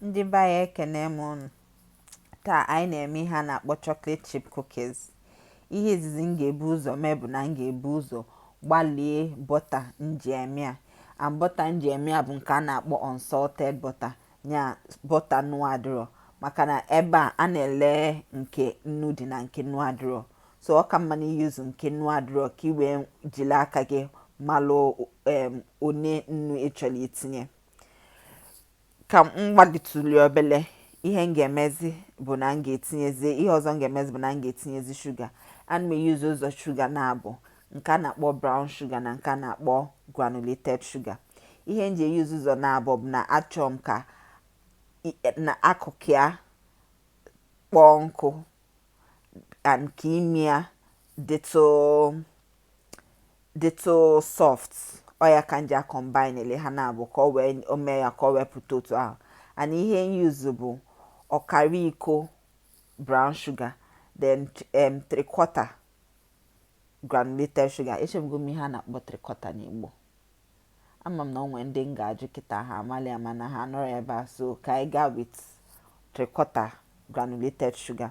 Ndị be anyị ekene m ụnụ. Taa anyị na-eme ihe a na-akpọ chocolate chip cookies. Ihe izizi m ga-ebu ụzọ mee bụ na m ga-ebu ụzọ gbalie bọta m ji eme a. And bọta m ji eme a bụ nke a na-akpọ unsalted butter ya bọta nnu adịrọ maka na ebe a a na-ele nke nnu dị na nke nnu adịrọ so ọ ka mma na i use nke nnu adịrọ ka i wee jiri aka gị malụ em one nnu ị chọrọ itinye. ka m gbalituli obele ihe m ga-emezi bụ na m ga-etinyezi ihe ọzọ m ga-emezi bụ na m ga-etinyezi shuga ana m e-use ụzọ shuga naabọ nke a na-akpọ brown sugar na nke a na-akpọ granulated sugar ihe m ji use ụzọ naabọ bụ na achọọ m ka na akụkụ ya kpọọ nkụ and ka ime ya dịtụ dịtụ soft ọ ya ka m ji a-combinele ha naabọ ka o wee o mee ya ka o wee pụta otu ahụ and ihe m use bụ ọkara iko brown sugar then um, three quarter granulated sugar echefugo m ihe a na-akpọ three quarter n'Igbo ama m na o nwere ndị m ga-ajụ kịta ha amalị mana ha anọrọ ebe a so ka anyị gaa with three quarter granulated sugar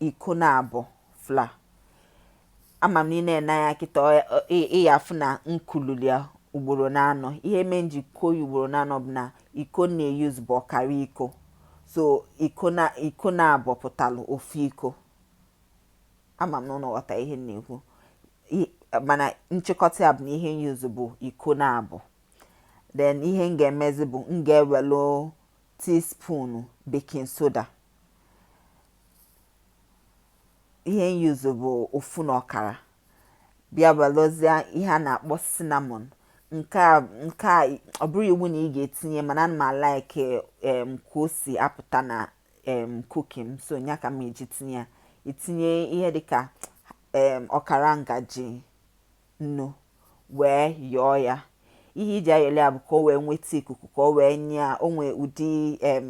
iko naabọ flour ama m na ị na-ene anya kịta ị ya-afụ na m kululi ya ugboro naanọ ihe mee m ji kuo ya ugboro naanọ bụ na iko m na-e-use bụ ọkara iko so iko na iko naabọ pụtalụ ofu iko ama m na ụnụ ghọta ihe m na-ekwu mana nchịkọta ya bụ na ihe m use bụ iko naabọ then ihe m ga-emezi bụ m ga-ewelụ teaspoon baking soda ihe m use bụ ofu na ọkara bịa welụzie ihe a na-akpọ cinnamon nke a nke a ọ bụrọ iwu na ị ga-etinye mana ana m a-like em ka o si apụta na em cookie m so nya ka m ji tinye ya i tinye ihe dịka em ọkara ngaji nnu wee yọọ ya ihe e ji ayọli ya bụ ka o wee nweta ikuku ka o wee nye ya o nwee ụdị em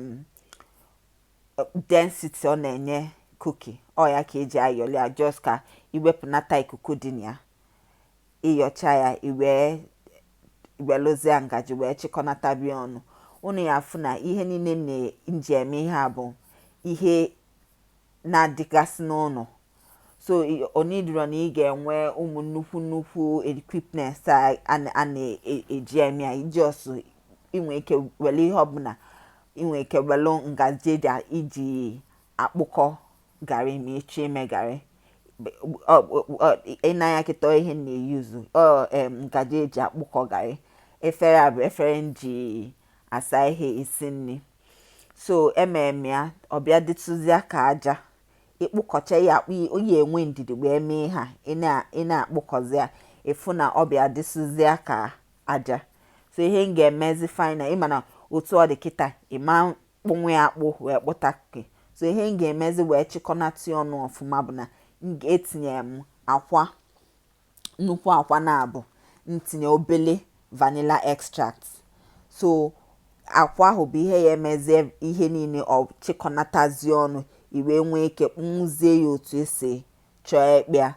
density ọ na-enye cookie ọ ya ka e ji ayọli ya just ka i wepụnata ikuku dị na ya ị yọchaa ya i wee welụzie ngaji wee chịkọnatabe ya ọnụ ụnụ ya-afụ na ihe niine m ji eme ihe a bụ ihe na-adịgasị n'ụnọ so o needịrọ na ị ga-enwe ụmụ nnukwu nnukwu equipment a na-eji e, e eme ya i just i nwe ike were ihe ọbụla i nwe ike were ngaji eji iji akpụkọ garị ma ị chọọ ime garị i nee anya kịta ihe m na-euse ngaji eji akpụkọ garị efere a bụ efere m ji asa ihe esi nri so i meme ya ọ bịa dịtụzịa ka aja ị kpụkọcha ya ị ya-enwe ndidi wee mee ihe a ị na-akpụkọzi ya ị fụ na ọ bịa dịsịzịa ka aja so ihe m ga-emezi final ị ma na otu ọ dị kịta ị ma kpụnwu ya akpụ wee kpụta cookie so ihe m ga-emezi wee chịkọnata ya ọnụ ọfụma bụ na m ga-etinye m akwa nnukwu akwa naabọ m tinye obele vanilla extract so akwa ahụ bụ ihe ya-emezi ihe niile ọ chịkọnatazie ọnụ i wee nwee ike kpụnwuzie ya otu i si chọọ ịkpụ ya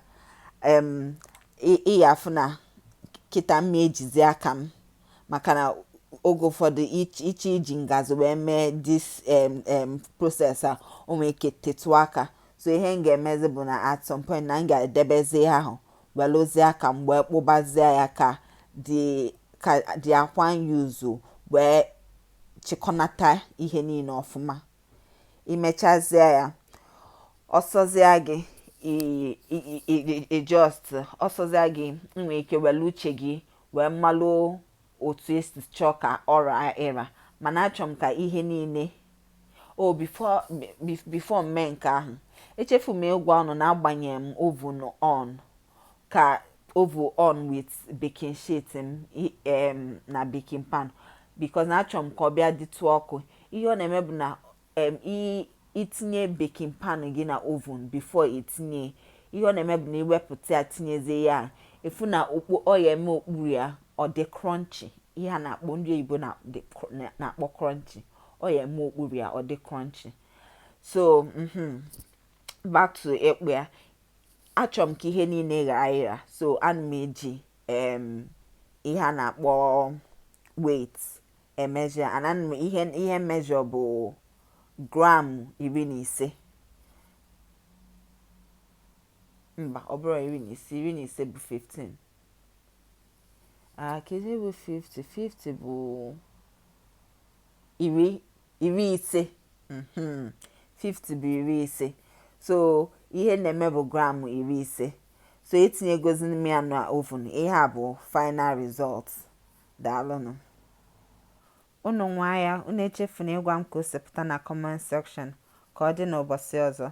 ị ya-afụ na kịta m na-ejizi aka m maka na oge ụfọdụ ị chọọ iji ngazi wee mee this process a o nwee ike tetụ aka so ihe m ga-emezi bụ na at some point na m ga-edebezi ihe ahụ weluzie aka m wee kpụbazie ya ka dị ka dị akwa ahụ zuo wee chịkọnata ihe niile ọfụma i mechazie ya ọ sọzie gị i just ọ sọzie gị i nwee ike welu uche gị wee malụ otu i si chọọ ka ọ ra ịra mana achọrọ m ka ihe niile o before before m mee nke ahụ echefu m ịgwa unu na agbanyere m oven on ka oven on with baking sheet m na baking pan because na achọrọ m ka ọ bịa dịtụ ọkụ ihe ọ na-eme bụ na i tinye baking pan gị na oven before i tinye ihe ọ na-eme bụ na i wepụta ya tinyezie ya ị fụ na okpu ọ ya-eme okpuru ya ọ dị crunchy ihe a na-akpọ ndị oyibo na-akpọ crunchy ọ ya-eme okpuru ya ọ dị crunchy so mm-hmm, back to ịkpụ ya achọrọ m ka ihe niile raa ịra so ana m eji ihe a na-akpọ weight emeasure and ihe ihe m measure bụ gram iri na ise mba ọ bụrọ iri na ise iri na ise bụ 15 Ah, kedu bụ 50? 50 bụ iri iri ise. Mhm. 50 bụ iri ise. So ihe m na-eme bụ gram iri ise. So etinyegozi m ya na oven. Ihe a bụ final result. Daalụnụ. Unu nwaa ya, unu echefuna ịgwa m ka o si pụta na comment section. Ka ọ dị n'ụbọchị ọzọ.